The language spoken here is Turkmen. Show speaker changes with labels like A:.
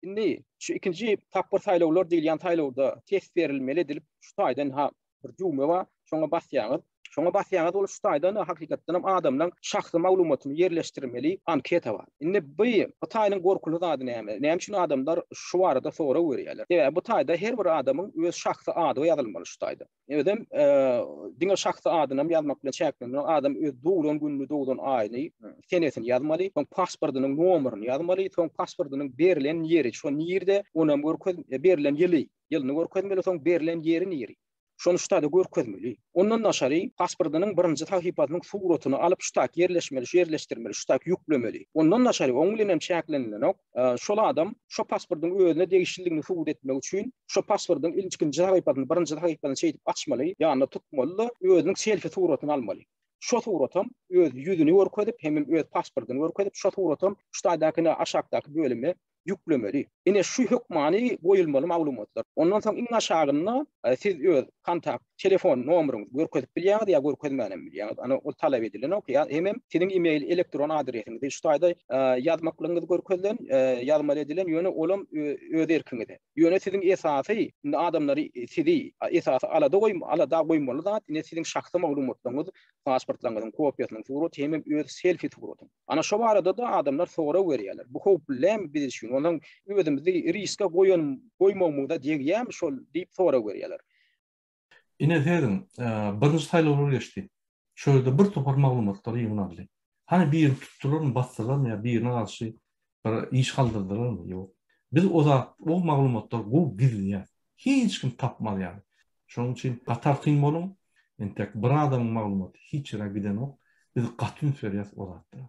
A: Indi şu ikinji tapgyr saýlawlar diýilýän saýlawda test berilmeli edilip, şu taýdan ha bir düwme bar, şoňa basýaňyz. Şoňa basýaňyz ol şu taýdan hakykatdan hem adamlaryň şahsy maglumatyny ýerleşdirmeli anketa bar. Indi bu bu taýynyň gorkuly zady näme? Näme üçin adamlar şu barada sorag berýärler? Sebäbi bu taýda her bir adamyň öz şahsy ady ýazylmaly şu taýda. Özem diňe şahsy adynam ýazmak bilen çäklenmän, adam öz doglan gününi, doglan aýyny, senesini ýazmaly, soň pasportynyň nomerini ýazmaly, soň pasportynyň berlen ýeri, şo nirde, onam görkez, berlen ýyly, ýylyny görkezmeli, soň berlen ýeri niri. Şony ştada görkezmeli. Ondan daşary pasportynyň birinji sahypasynyň suratyny alyp ştak ýerleşmeli, şu ýerleşdirmeli, ştak ýüklemeli. Ondan daşary oň bilen hem çäklenilenok. şol adam şo pasportyň özüne degişlidigini subut etmek üçin şo pasportyň ilkinji sahypasyny, birinji sahypasyny şeýdip açmaly, ýanyna tutmaly-da, özüniň selfi suratyny almaly. Şo suratam öz ýüzüni görkezip, hemem öz pasportyny görkezip, şo suratam şu taýdaky ine aşakdaky bölüme ýüklemeli. Ine şu hökmany goýulmaly maglumatlar. Ondan soň iň aşagynda siz öz kontakt telefon nomeryňyzy görkezip bilýäňiz ýa görkezmän hem bilýäňiz. Ana ol talap edilenok. Ýa hemem siziň e-mail elektron adresiňizi şu taýda ýazmaklygyňyz görkezilen, ýazmaly edilen, ýöne olam öz erkiňize. Ýöne siziň esasy indi adamlary sizi esasy alada goý alada goýmaly zat ine siziň şahsy maglumatlaryňyz, pasportlaryňyzyň kopiýasynyň suraty hemem öz selfi suratyň. Ana şo barada-da adamlar sorag berýärler. Bu howply dälmi biz üçin? Onsoň özümizi riske goýan goýmagymyza degýärmi şol diýip sorag berýärler.
B: Ine sezin, birinji saýlawlar geçdi. Şo ýerde bir topar maglumatlar ýygnaldy. Hany birini tutdularmy, basdylarmy ýa birine garşy bir iş galdyrdylarmy? Ýok. Biz o zat, o maglumatlary gowy gizleýäs. Hiç kim tapmaz ýaly. Şonuň üçin gatartyn boluň. Entek bir adamyň maglumaty hiç ýere gidenok. Biz gaty üns berýäs o zatlara.